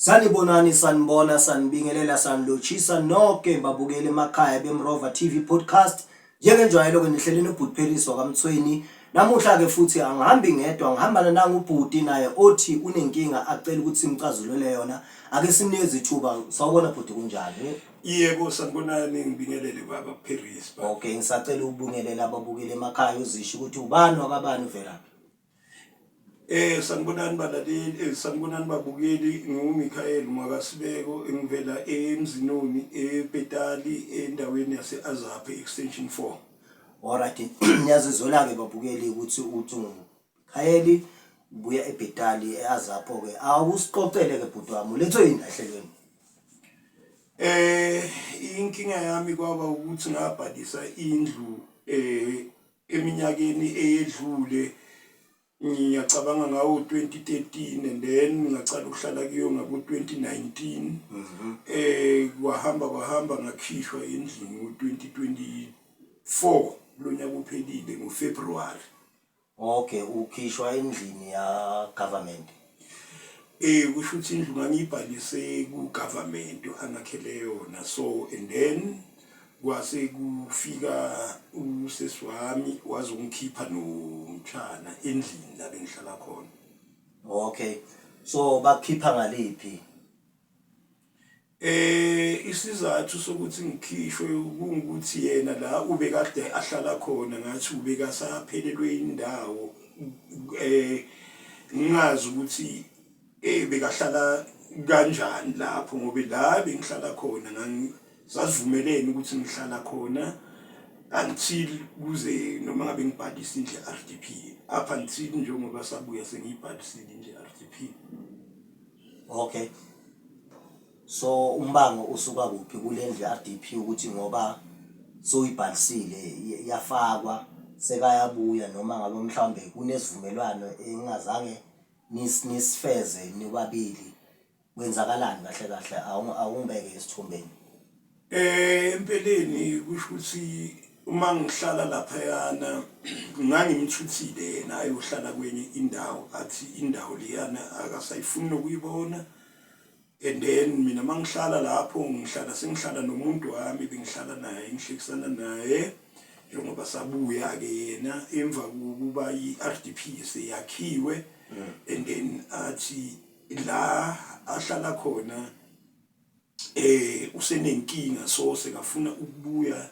Sanibonani sanibona sanibingelela sanilotshisa nonke babukeli emakhaya beMrova TV podcast njengenjwayelo ke nihlele nobhutipheliswa kaMthweni namuhla ke futhi angihambi ngedwa ngihambana nangu ubhuti naye othi unenkinga acela ukuthi simcazulule yona ake sinikeze ithuba sawubona bhuti kunjani Yebo sanibonani ngibingelele baba Paris. Okay ngisacela ukubingelela ababukeli emakhaya uzisho ukuthi ubani wakabani uvelaphi. Eh sanibonani balaleli, eh sanibonani babukeli, nginguMichael Mwakasibeko engivela eMzinoni ePetali endaweni yase-Azaphe extension 4. Alright niyazizwela-ke babukeli ukuthi uthi Gayeli, Ngibuya eBhetali eAzapo ke awusixoxele ke bhuti wami ulethwe yini ehlelweni? Eh inkinga yami kwaba ukuthi ngabhalisa indlu eh eminyakeni eyedlule ngiyacabanga ngawo 2013 and then ngacala ukuhlala kuyo ngabo 2019 mhm. eh kwahamba kwahamba ngakhishwa endlini ngo 2024 lonyaka uphelile ngoFebruary Ok ukhishwa endlini ya government. Eh kusho ukuthi indlu ngangiyibhalise ku government angakhele yona so and then kwase kufika usesi wami wazongikhipha nomtshana endlini la bengihlala khona. Okay so bakukhipha ngaliphi Eh isizathu sokuthi ngikhishwe ukuthi yena la ubekade ahlala khona ngathi ubekasaphelelwe indawo eh ngingazi ukuthi eh bekahlala kanjani lapho ngoba la bengihlala khona ngangisazivumelene ukuthi ngihlala khona until kuze noma ngabe ngibhalisile nje RDP up until njengoba sabuya sengiyibhalisile nje RDP Okay. So umbango usuka kuphi kule ndlu RDP ukuthi ngoba soyibhalisile y- yafakwa sekayabuya noma ngabe mhlawumbe kunesivumelwano engingazange nis- nisifeze nobabili kwenzakalani kahle kahle Awungi- awungibeke esithombeni Eh empeleni kusho ukuthi uma ngihlala laphayana ngangimthuthile yena ayohlala kwenye indawo athi indawo leyana akasayifuni nokuyibona and then mina uma ngihlala lapho ngihlala sengihlala nomuntu wami bengihlala naye ngihlekisana naye njengoba sabuya-ke yena emva kokuba i-r d p seyakhiwe mm. and then athi la ahlala khona eh usenenkinga so sekafuna ukubuya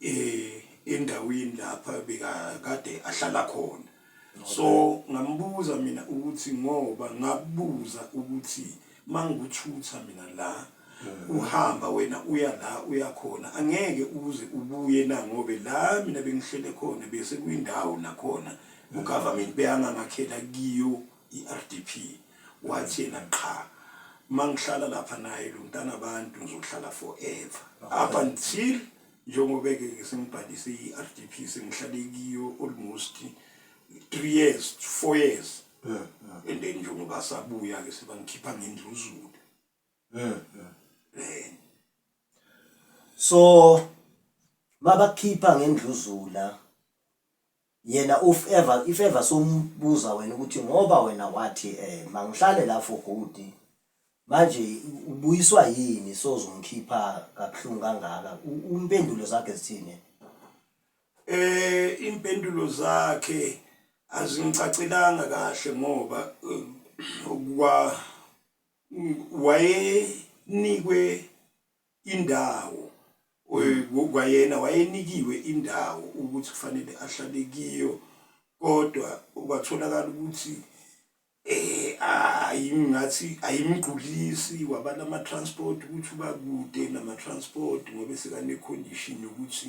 eh endaweni lapha bekakade ahlala khona so ngambuza mina ukuthi ngoba ngabuza ukuthi mangikuthutha mina la mm. uhamba wena uya la uyakhona angeke uze ubuye na ngobe la mina bengihlele khona bese kwindawo nakhona ugovernment beyangangakhela kiyo iRDP wathi yena qha mangihlala lapha naye lo mntana abantu ngizohlala forever up until njengoba-ke ngisengibhalise i-rdp sengihlale kiyo almost three years four years and then njengoba sabuya-ke sebangikhipha ngendluzulu um so mabakhipha ngendluzula Yena uf ever if ever sombuza wena ukuthi ngoba wena wathi eh mangihlale la for good manje ubuyiswa yini sozongikhipha kabuhlungu kangaka umpendulo zakhe zithini eh impendulo zakhe azingicacelanga kahle ngoba eh, wa wayenikwe indawo kwayena wayenikiwe indawo ukuthi kufanele ahlale kiyo kodwa kwatholakala ukuthi eh ayingathi ayimgqulisi wabala ama transport ukuthi uba kude nama transport ngoba sekanecondition yokuthi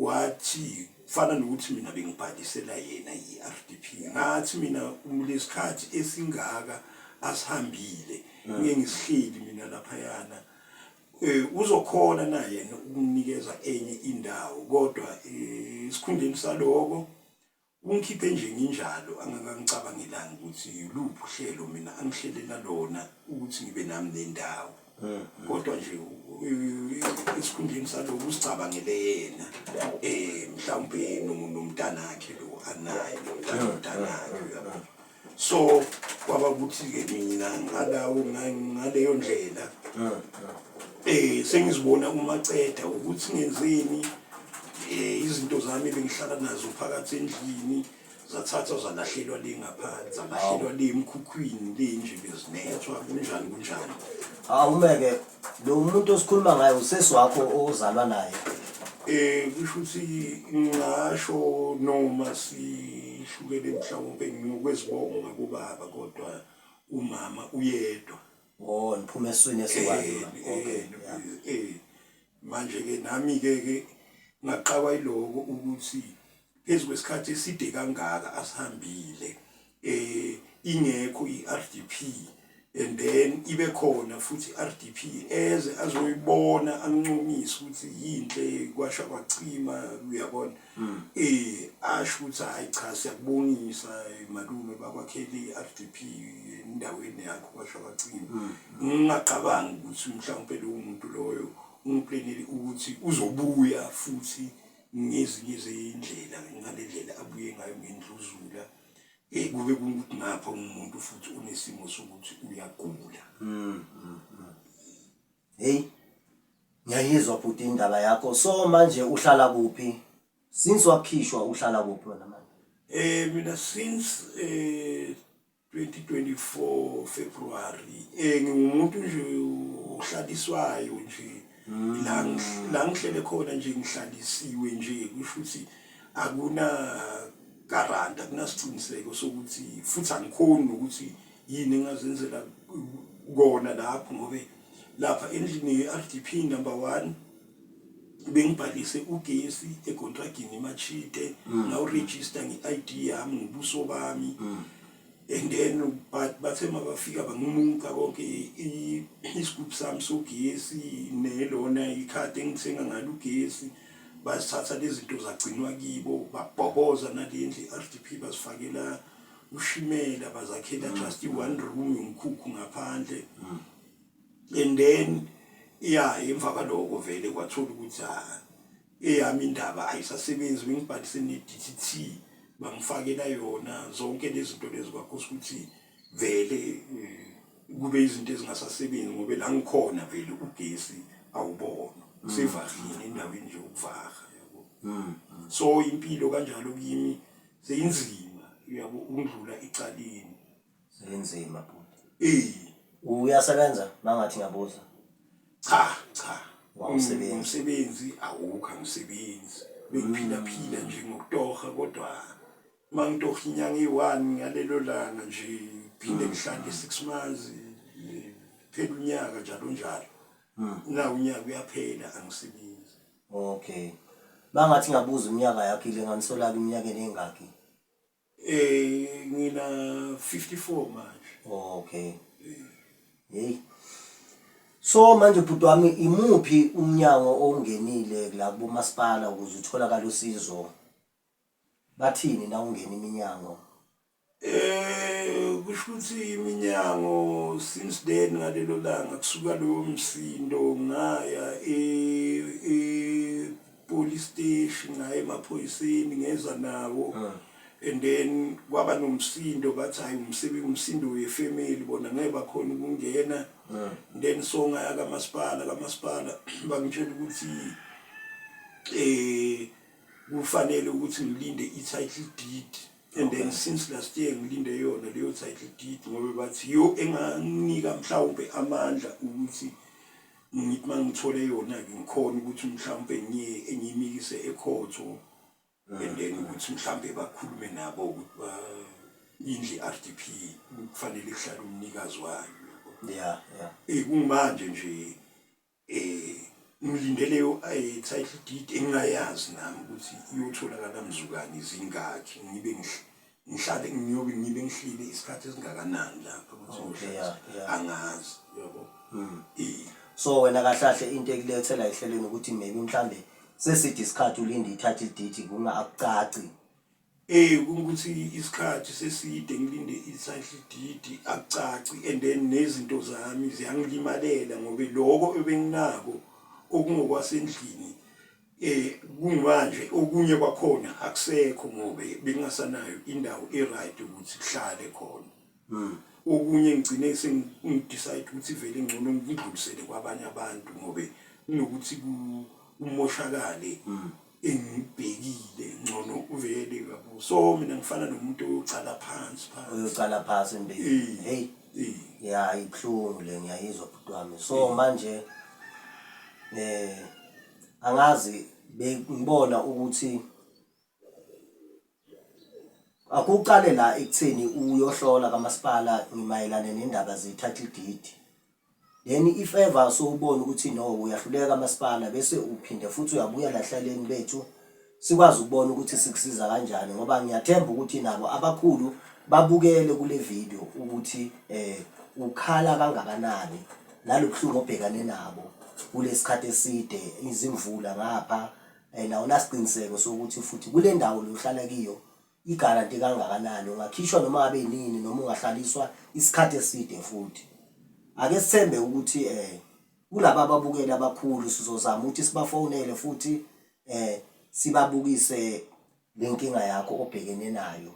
Wathi, Kufana nokuthi mina bengibhalisela yena i-RDP. Ngathi, Mina, lesikhathi esingaka asihambile, ngike ngisihleli mina laphayana. Um, uzokhona na yena ukunginikeza enye indawo, kodwa, um, esikhundleni saloko, Ungikhiphe nje nginjalo angangangicabangelanga ukuthi yiluphi uhlelo mina angihlelela lona ukuthi ngibe nami nendawo. Kodwa nje esikhundleni salokho usicabangele yena eh mhlawumbe nomntanakhe lo anaye nomntanakhe uyabo. so kwaba ukuthi-ke mina ngalawo ngaleyo ndlela um sengizibona umaceda ukuthi ngenzeni um izinto zami bengihlala nazo phakathi endlini zathathwa zalahlelwa le ngaphansi zalahlelwa le emkhukhwini le nje bezinethwa kunjani kunjani awumeke Lo muntu osikhuluma ngayo usesi wakho ozalwa naye. Eh kusho ukuthi ngingasho noma sihlukene mhlawumbe ngiyokwezibonga ngakubaba kodwa umama uyedwa. Oh niphuma eswini esikwani. Eh, eh, okay. Eh, eh. Manje ke nami ke ke ngaqawa iloko ukuthi phezu kwesikhathi eside kangaka asihambile eh ingekho iRDP and then ibe khona futhi iRDP eze azoyibona ancumise ukuthi yinhle kwasha kwachima uyabona hmm. eh asho ukuthi hayi cha siyakubonisa eh, malume bakwakheli iRDP endaweni yakho kwasha kwachima hmm. ngingacabangi ukuthi mhlawumbe lo muntu loyo umpleneli ukuthi uzobuya futhi ngezinye zeyindlela ngale ndlela abuye ngayo ngendluzula eyi kube kukuthi ngapha umuntu futhi unesimo sokuthi uyagula mm, mm, mm. heyi ngiyayizwa bhuti indaba yakho so manje uhlala kuphi since wakhishwa uhlala kuphi wena manje um mina since um 2024 February eh ngiwumuntu nje ohlaliswayo nje mm. la la ngihlele khona nje ngihlalisiwe nje kusho ukuthi akuna garant akunasiqiniseko sokuthi futhi angikhoni nokuthi yini engazenzela kona lapho ngobe lapha endlini ye-RDP number 1 bengibhalise ugesi ekontragini machite mm. la uregister nge-id yami ngobuso bami mm. and then but bathe mabafika bangimuka konke isigubhu sami sogesi nelona ikhadi engithenga ngalo ugesi basithatha lezi zinto zagcinwa kibo babhoboza nale ndlu i-r d p bazifakela ushimela bazakhela mm. just i-one room yomkhukhu ngaphandle mm. and then ya emva kwaloko vele kwathola ukuthi ah, eyami indaba ayisasebenzi bengibhalise ne-dtt bangifakela yona zonke lezi zinto lezi kwakhosa ukuthi vele eh, kube izinto ezingasasebenzi ngoba la ngikhona vele ugesi awubona mm. sevahile endaweni nje ukuvaha yabo mm. so impilo kanjalo kimi seyinzima yabo ungidlula icaleni Senzima bhuti. Eh. Uyasebenza mangathi ngiyabuza. Cha, cha. Wawusebenzi. Umsebenzi awukho umsebenzi. Bengiphila phila nje ngokutoha kodwa mangitoha inyanga eyi-one ngalelo langa nje phinde mm. ngihlale six months phela unyaka njalo njalo. Mm. Na unyaka uyaphela angisebenzi. Okay. Mangathi ngabuza iminyaka yakhe le nganisola iminyaka enengakhi. Eh ngina 54 manje. Oh, okay. Hey. So manje bhuti wami imuphi umnyango ongenile la kubomasipala ukuze utholakala usizo? Bathini na ungena iminyango? Eh kusho ukuthi iminyango since then ngalelo langa kusuka lowo msindo ngaya eh police station ngaye emaphoyiseni ngeza nawo ah. and then kwaba nomsindo bathi hayi umsebenzi umsindo wefamily bona ngeke bakhona ukungena ah. then songaya kamasipala kamasipala bangitshela ukuthi eh kufanele ukuthi ngilinde i-title deed and okay. then since last year ngilinde yona leyo title deed ngoba bathi yo enganika mhlawumbe amandla ukuthi ngithi uma ngithole yona-ke ngikhona ukuthi mhlawumpe ngiyimikise ekhotho and then ukuthi mhlawumpe bakhulume nabo ukuthi indlu i-r d p kufanele kuhlale umnikazi wayo ya ya um kumanje nje um ngilindele i-title deed engingayazi nami ukuthi iyotholakala mzukane zingakhi ngibe ngihlale ngiyobe ngibe ngihlile isikhathi esingakanani lapho ukuthi oh, ngihlale angazi yabo mm. so wena kahlahle into ekulethela ehlelweni ukuthi maybe mhlambe sesithi isikhathi ulinde ithathe idate kunga akucaci eh ukuthi isikhathi seside ngilinde ithathe idate akucaci and then nezinto zami ziyangilimalela ngoba lokho ebenginako okungokwasendlini Kuyimanje okunye kwakhona akusekho ngoba bengingasanayo indawo e-right ukuthi kuhlale khona. Okunye ngigcine sengidecide ukuthi vele ngcono ngidlulisele kwabanye abantu ngoba kunokuthi kumoshakale engibhekile ngcono uvele yabo. So mina ngifana nomuntu oyocala phansi phansi. Uyocala phansi empilweni. Hey. Ya ibuhlungu le ngiyayizwa bhuti wami. So manje eh angazi bengibona ukuthi akuqale la ekutheni uyohlola kamasipala ngimayelane nendaba ze-title deed then if ever sowubona ukuthi no uyahluleka kamasipala bese uphinde futhi uyabuya nahlelweni bethu sikwazi ukubona ukuthi sikusiza kanjani ngoba ngiyathemba ukuthi nabo abakhulu babukele kule video ukuthi eh ukhala kangakanani nalobuhlungu obhekane nabo kulesikhathi eside izimvula ngapha eh, and awunasiqiniseko sokuthi futhi kule ndawo lohlala kiyo Igaranti kangakanani? Ungakhishwa noma ngabe yinini noma ungahlaliswa isikhathi eside futhi. Ake sithembe ukuthi um kulaba ababukeli abakhulu sizozama ukuthi sibafonele futhi um sibabukise le nkinga yakho obhekene nayo.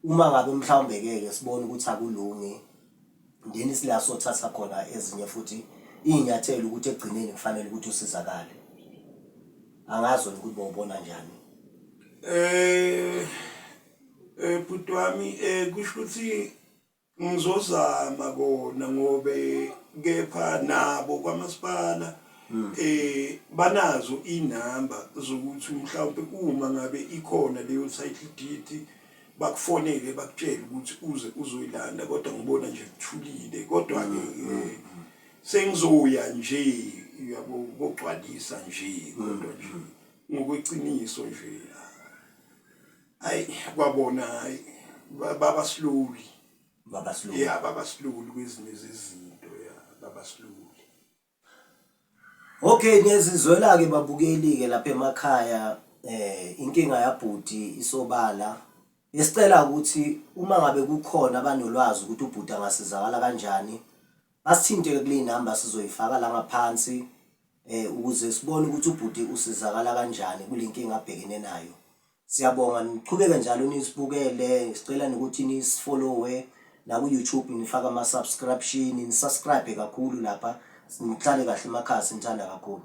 Uma ngabe mhlawumbe-ke ke sibona ukuthi akulungi. Ndini sila sothatha khona ezinye futhi iy'nyathelo ukuthi ekugcineni kufanele ukuthi usizakale. Angazi wena ukuthi bowubona njani. Eh, eh bhuti wami eh kusho ukuthi ngizozama kona ngobe kepha nabo kwamasipala hmm. eh banazo inamba zokuthi mhlawumbe uma ngabe ikhona leyo title deed bakufonele bakutshele ukuthi uze uzoyilanda kodwa ngibona nje kuthulile kodwa-ke mm, mm, eh, mm. sengizoya nje uyabo kogcwalisa nje kodwa nje ngokweqiniso nje hayi kwabona hayi baba slowly baba slowly yeah baba slowly kwezinye izinto yeah baba slowly Okay ngiyazizwela-ke babukeli-ke lapha emakhaya inkinga yabhuti isobala. Besicela ukuthi uma ngabe kukhona abanolwazi ukuthi ubhuti angasizakala kanjani, basithinte-ke kuley'namba sizoyifaka la ngaphansi ukuze sibone ukuthi ubhuti usizakala kanjani kule nkinga abhekene nayo. Siyabonga niqhubeke njalo nisibukele sicela nokuthi nisifollowe naku YouTube nifake ama subscription nisubscribe kakhulu lapha nihlale kahle emakhasi nithanda kakhulu